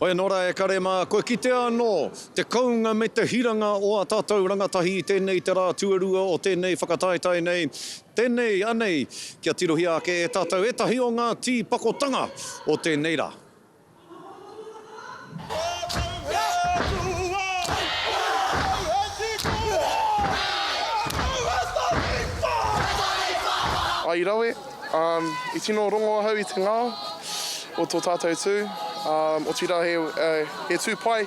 Hoi anō rā e kare mā, kua kitea anō te kounga me te hiranga o ā tātou rangatahi i tēnei te rā tuarua o tēnei whakataetae nei, tēnei anei kia tirohia ake e tātou ētahi o ngā tīpakotanga o tēnei rā. Ai rawe, I tino rongo ahau i te ngao o tō tātou tū, otirā he tū pai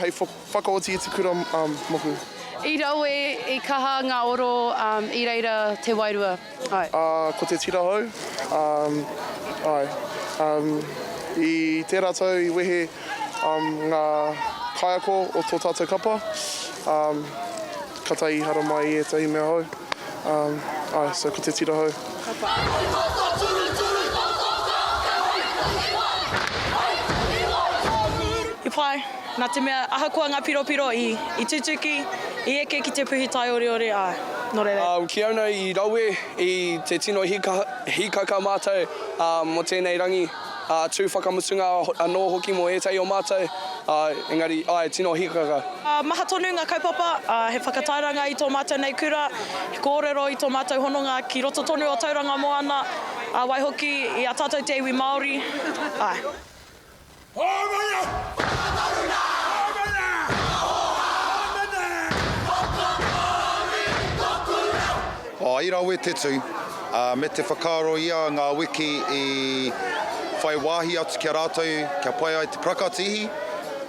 hei whakaoti i te kura moku. I rawe, i kaha ngā oro i reira te wairua, āe. Ko te tira hou, āe. I tērā tau i wehe ngā kaiako o tō tātou kapa, Ka tae i haramai i etahi mea hou, ae, so ko te tira hou. Ka pa. Hei tata turuturu ta tou reo te hui puhi mai, hei puhi mai ta tou. He pai, na te mea ahakoa nga piropiro i, i tutuki, i eke ki te puhi taioreore a, no reira. Ki au nei i rawe i te tino hikaka matou mo tenei rangi. ā, tū whakamutunga anō hoki mō ētahi o mātou, ā, engari, āe, tino hīkaka. Maha tonu ngā kaupapa, ā, he whakatairanga i tō mātou nei kura, he kōrero i tō mātou hononga ki roto tonu o Tauranga Moana, ā, waihoki i a tātou te iwi Māori, āe. Hōmana! Whakataruna! Hōmana! Whakahōhā! Hōmana! Whakapōuri! Tōku reo! I rawe te tū, ā, me te whakaaro ia ngā wiki i whai wāhi atu ki a rātou kia pai ai te prakatihi,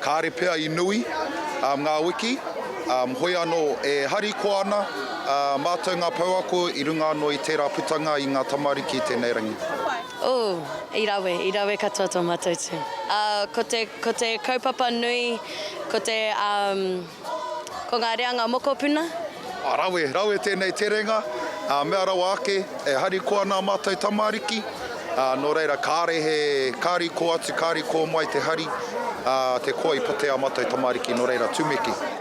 kāre pea i nui ngā wiki, ā, hoi anō e harikoa ana mātou ngā pouako i runga anō i tērā putanga i ngā tamariki i tēnei rangi. Ooh, i rawe, i rawe katoa tō mātou tū. Ko te, ko te kaupapa nui, ko te, ā. Ko ngā reanga mokopuna. Rawe, rawe tēnei terenga, ā, mea rawa ake, e harikoa ana ā mātou tamariki, ā, nō reira kāre he, ka riko atu, ka riko mai te hari, ā, te koa i pate ā mātou tamariki, nō reira, tumeke.